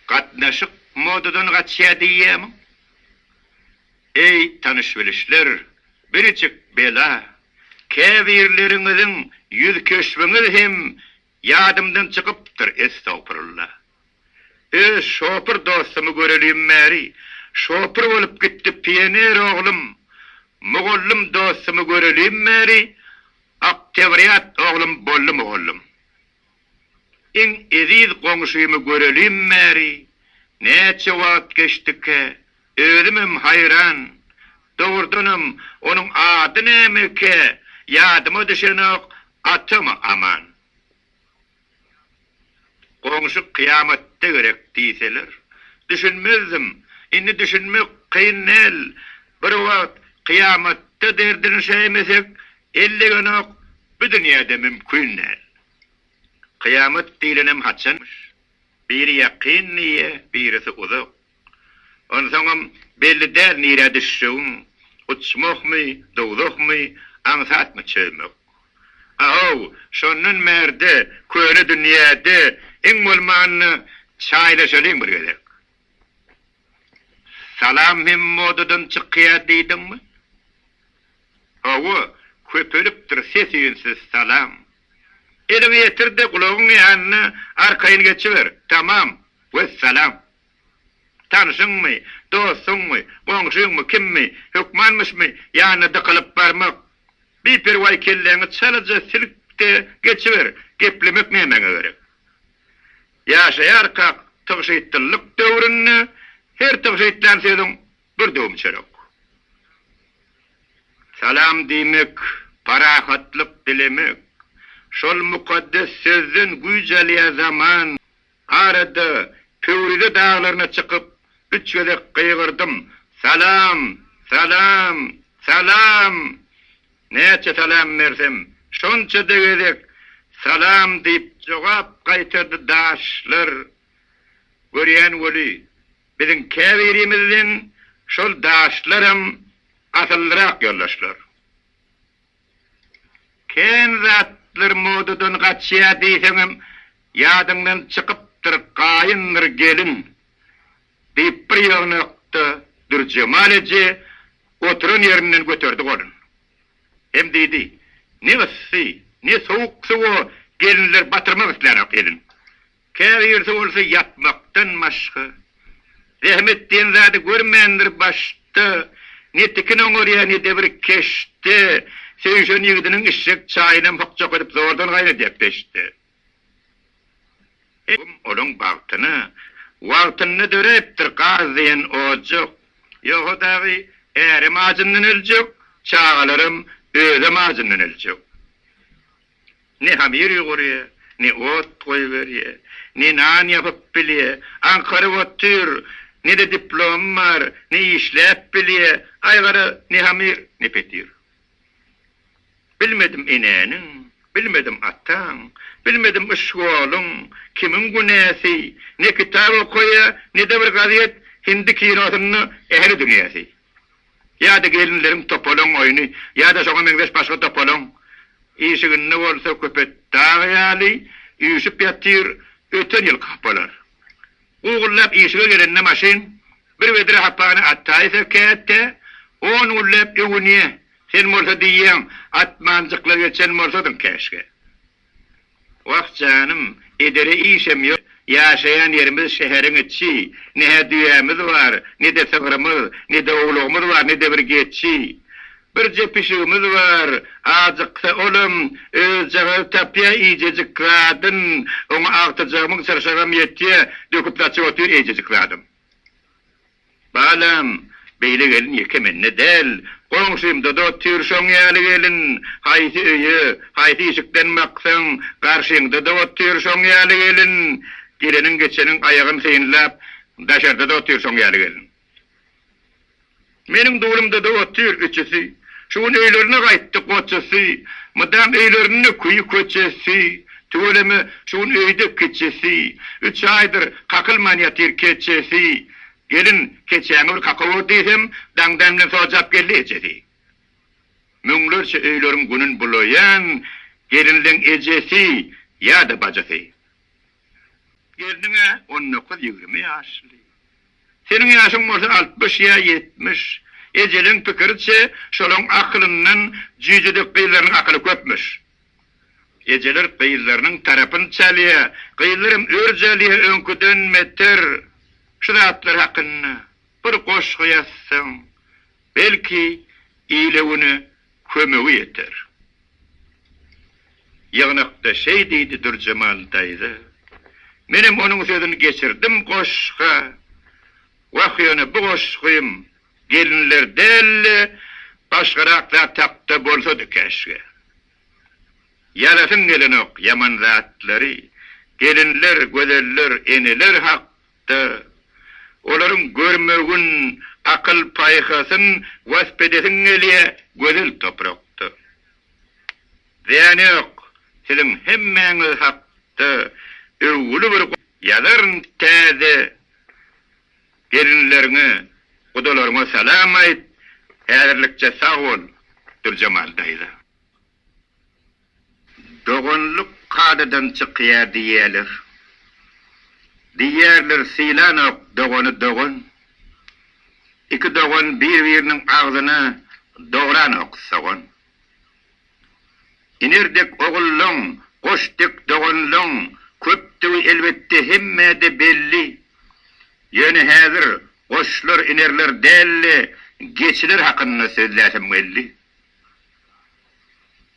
Gatnaşyk modadan gaçýar diýýärmiň? Eý, tanyş-bilişler, birjik bela, käbirleriňiziň ýüzkeşbiňiz hem ýadymdan çykypdyr, estagpurulla. Öz şopur dostumy görelim bäri, şopur bolup gitdi pioner oglum, mugallym dostumy görelim bäri, oktýabrýat oglum boldy mugallym. Iň eziz goňşymy görelim bäri näçe wagt geçdikä? Özümem haýran. Dogrudanam, onuň ady nämekä, ýadyma düşenok, atamy Aman. Goňşy kyýamatda gerek diýseler, düşünmezdim. Indi düşünmek kyn däl. Bir wagt kyýamatda derdini şäýmesek, ellegenok, bu dünýäde mümkin däl. Kyýamat diýlenem haçanmyş? Biri ýakyn diýýä, birisi uzak. Onsoňam belli däl nirä düşjegiň, uçmakmy, dowzahmy, aňsatmy çözmek. A-how, şondan bärde köne dünýäde iň bolmanda çaýlaşalyň bir gezek. Salam hem modadan çykýar diýdiňmi? Hawa, köpelipdir ses-üýnsiz salam. Eliňi ýetir-de gulagyň ýanyna arkaýyn geçiber, tamam, wessalam. Tanşyňmy, dostuňmy, goňşyňmy, kimmi, hökmanmyşmy ýanyna dykylyp barmak. Biperwaý kelläňi çalaja silk-de geçiber, geplemek nämäňe gerek. Ýaşaýarkak tygşytlylyk döwründe her tygşytlän sözüň bir döwüm çörek. Salam diýmek, parahatlyk dilemek. Şol mukaddes sözden güýç alýar zaman. Arada Pöwrize daglaryna çykyp, üç gezek gygyrdym, Salam! Salam! Salam! Näçe salam bersem, şonça-da gezek Salam diýip jogap gaýtardy daşlar. Görýän weli, biziň käbirimizden şol daşlaram asyllyrak ýoldaşlar. Kän zatlar modadan gaçýar diýseňem ýadyňdan çykypdyr gaýyndyr gelin. Diýip, bir ýygnakda Dürjemal eje oturan ýerinden göterdi golun. Hem diýdi, Ne yssy, ne sowuk suwa gelinler batyrmak islänok elin. Käbirisi bolsa ýatmakdan başga, zähmet diýen zady görmändir, başda ne tikin oňarýar, ne-de bir keşde söýüşen ýigdiniň içjek çaýynam hokjak edip zordan gaýnadýar peşde. Öwüm olaň bagtyna, wagtynda döräpdir gaz diýen ojak. Ýogsa dagy ärem ajyndan öljek, çagalaram, özem ajyndan öljek. Ne hamir ýugurýa, ne ot goýberýä, ne nan ýapyp bilýä, aňkaryp otyr, ne-de diplomy bar, ne işläp bilýä, aý gara, ne hamir, ne petir. Bilmedim enäniň, bilmedim ataň, bilmedim yşgolyň, kimiň günäsi, ne kitap okaýa, ne-de bir gazet, hindi kinosynda ähli dünýäsi. Ýa-da gelinleriň topalaň oýny, ýa-da şoňa meňzeş başga topalaň. Işiginde bolsa köpet dag ýaly üýşüp ýatyr öten ýylky hapalar. Ugullap işige gelende maşyn bir wedre hapany atdaýsa käte on gulläp öwünýä, sen bolsa diýýäň atmanjykla geçen bolsadyň käşgä. Wah janym, edere işem ýok, ýaşaýan ýerimiz şäheriň içi, ne-hä düýämiz bar, ne-de sygrymyz, ne-de owlagymyz bar, ne-de bir geçi. Birje pişigimiz bar. Ajyksa olam, özjagazy tapýar iýjejik zadyn. Oňa agtyjak müň çyrşagam ýetýär, döküp saçyp otyr eýjejik zadam. Balam, beýle gelin ýeke mende däl. Goňşymda-da otyr şoň ýaly gelin. Haýsy öýe, haýsy işikden baksaň, garşyňda-da otyr şoň ýaly gelin. Geleniň-geçeniň aýagyn synlap, daşarda-da otyr şoň ýaly gelin. Meniň dulumda-da otyr üçüsi. Şu gün öýlerine gaýtdy goçusy. Mydam öýlerinde küýi köçesi. Tüweleme, şu gün öýde kiçisi. Üç aýdyr kakylman ýatyr keçesi. Gelin, keçäňi bir kaka gör diýsem, daňdan bilen sojap geldi ejesi. Müňlerçe öýleriň günün bulaýan gelinleň ejesi ýa-da bajysy. Gelniň-ä on dokuz-ýigrimi ýaşly. Seniň ýaşyň bolsa altmyş ýa ýetmiş. Ejeleň pikiriçe, şolaň akylyndan jüýjedek gyzlarynyň akyly köpmüş. Ejeler gyzlarynyň tarapyny çalýa, gyzlaram örj alýa öňküden beter. Şu zatlar hakynda bir goşgy ýazsaň, belki, ile-güne kömegi ýeter. Ýygnakda şeý diýdi Dürjemal daýza. Menem onuň sözüni geçirdim goşga. Wah ýöne bu goşgym gelinler däl-de başgarak zat hakda bolsady käşgä. Ýazasyň gelenok ýaman zatlary, gelinler, gözeller, eneler hak. Da, olaryň görmegin, akyl-paýhasyn wasp edesiň gelýä, gözel toprakda. Zyýany ýok, siziň hemmäňiz hakda öwgüli bir ýazaryn täze gelinleriňe, gudalaryňa salam aýt, häzirlikçe sag bol, Dürjemal daýza. Doganlyk kadadan çykýar diýýärler. Diýýärler sylanok dogany dogan. Iki dogan bir-biriniň agzyna dogranok sogan. Iner dek ogullaň, goş dek doganlaň köpdügi elbetde hemmä-de belli. Ýöne häzir goşlar, inerler däl-de, geçiler hakynda sözläsem geldi.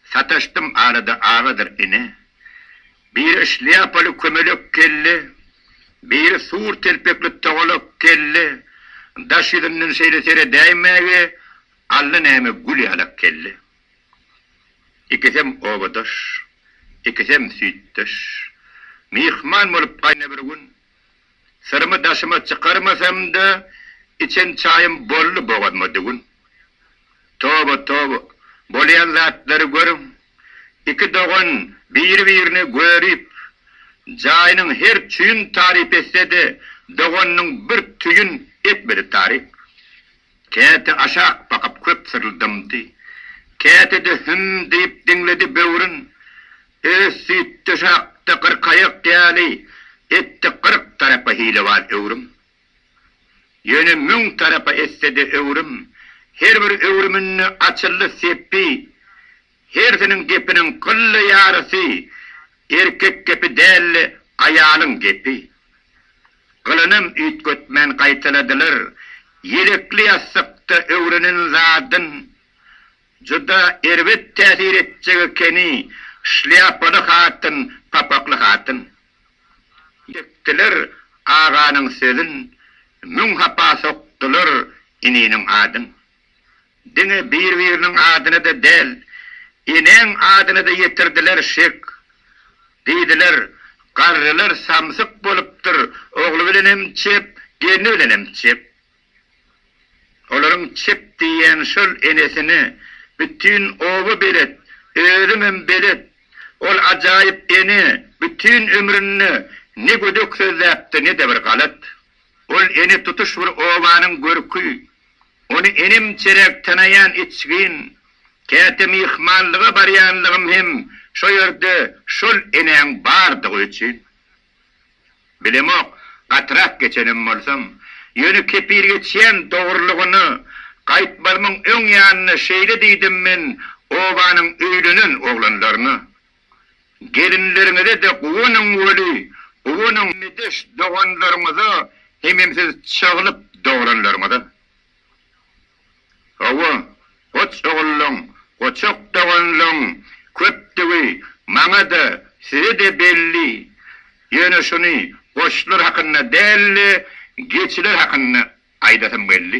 Sataşdym arada agadyr ine. Biri şlýapaly kömelek kelle, biri sur telpekli togalak kelle, daş ýüzünden şeýle seredäýmäge alla näme gül ýalak kelle. Ikisem obadaş, ikisem süýtdeş. Myhman bolup gaýna bir gün Syrymy daşyma çykarmasam-da, içen çaýym boldy bogazyma düwün. Toba, toba, bolýan zatlary görüň! Iki dogan biri-birini görüp, jaýynyň her çüýün taryp etse-de, doganynyň bir tüýün etmedi taryp. Käte aşak bakyp köp syryldamdy, käte-de hüm diýip diňledi böwrün. Öz süýtdeşi hakda gyrkaýak ýaly etdi gyrk tarapa hilewar öwrüm. Ýöne müň tarapa etse-de öwrüm, her bir öwrüminde açyldy sepi. Hersiniň gepiniň kylly ýarysy erkek gepi däldi, aýalyň gepi. Gylanam üýtgetmän gaýtaladylar, Ýelekli ýassykda öwrenen zadyň juda erbet täsir etjek ekeni, şlýapaly hatyn, papakly hatyn. Ýekdiler aganyň sözün, müň hapa sokdular ininiň adyn. Diňe bir biriniň adyna-da däl, eneň adyna-da ýetirdiler şek. Diýdiler, Garrylar samsyk bolupdyr, ogly bilenem çep, gelni bilenem çep. Olaryň çep diýýän şol enesini bütin oba belet, özümem belet. Ol ajaýyp ene bütin ömründe ne gödek sözläpdi, ne-de bir galat. Ol ene tutuş bir obanyň görki, Ony inim-çerek tanaýan içgin. Käte myhmanlyga barýanlygym hem şo ýerde şol enäň bardygy üçin. Bilemok, gatyrak geçenem bolsam. Ýöne kepil geçýän dogrulygyna, gaýtmazymyň öň ýanyna şeýle diýdim men obanyň öýlenen oglanlaryna. Gelinleriňize-de guwanyň weli, guwanyň medeş doganlaryňyza hemem siz çaglyk dogranlaryňyza. Hawa, goç ogullaň, goçak doganlaň köpdügi maňa-da, size-de belli. Ýöne şuny goçlar hakynda däl-de, geçiler hakynda aýdasym geldi.